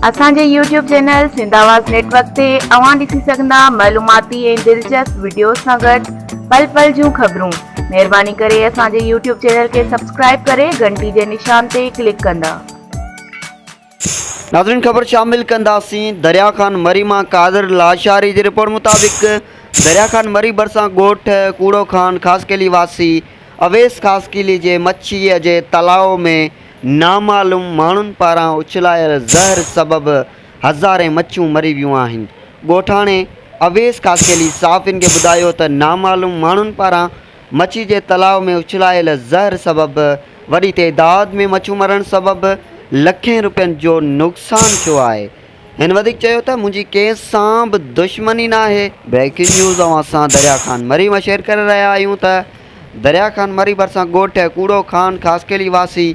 اسان جي YouTube channel Sindh Awaz network تي اوهان ڏسي سگهندا معلوماتي ۽ دلچسپ وڊيوز سان گڏ پل پل جون خبرون مهرباني ڪري اسان جي يوٽيوب چينل کي سبسڪرائب ڪري گهنٽي جي نشان تي ڪلڪ ڪندا. ناظرين خبر شامل ڪنداسين دريا خان مري مان قادر لاشاري جي رپورٽ مطابق دريا خان مري ڀرسان ڳوٺ ڪوڙو خان خاصخيلي واسي اويس خاصخيلي جي مڇيء جي تلاء ۾ نامعلوم ماڻهن پاران اڇلايل زهر سبب هزارين مڇيون مري ويون آهن. ڳوٺاڻي اويس خاصخيلي صحافين کي ٻڌايو ته نامعلوم ماڻهن پاران مڇي جي تلاء ۾ اڇلايل زهر سبب وڏي تعداد ۾ مڇيون مرڻ سبب لکين روپين جو نقصان ٿيو آهي. هن وڌيڪ چيو ته منهنجي ڪنهن سان به دشمني ناهي. بريڪنگ نيوز اوهان سان دريا خان مريم شيئر ڪري رهيا آهيون ته. دريا خان مري ڀرسان ڳوٺ ڪوڙو خان خاصخيلي واسي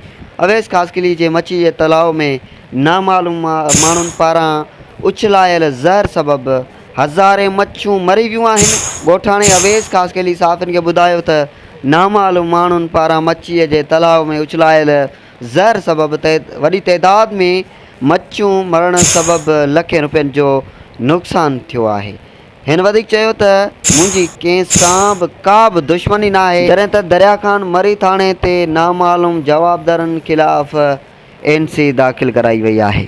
اويس خاصخيلي جي مڇي جي تلاء ۾ نامعلوم ماڻهن پاران اڇلايل زهر سبب هزارين مڇيون مري ويون آهن. ڳوٺاڻي اويس خاصخيلي صحافين کي ٻڌايو ته نامعلوم ماڻهن پاران مڇي جي تلاء ۾ اڇلايل زهر سبب وڏي تعداد ۾ مڇيون مرڻ سبب لکين روپين جو نقصان ٿيو آهي. هن وڌيڪ چيو ته منهنجي ڪنهن سان به ڪا به دشمني ناهي، جڏهن ته دريا خان مري ٿاڻي تي نامعلوم جوابدارن خلاف اين سي داخل ڪرائي وئي آهي.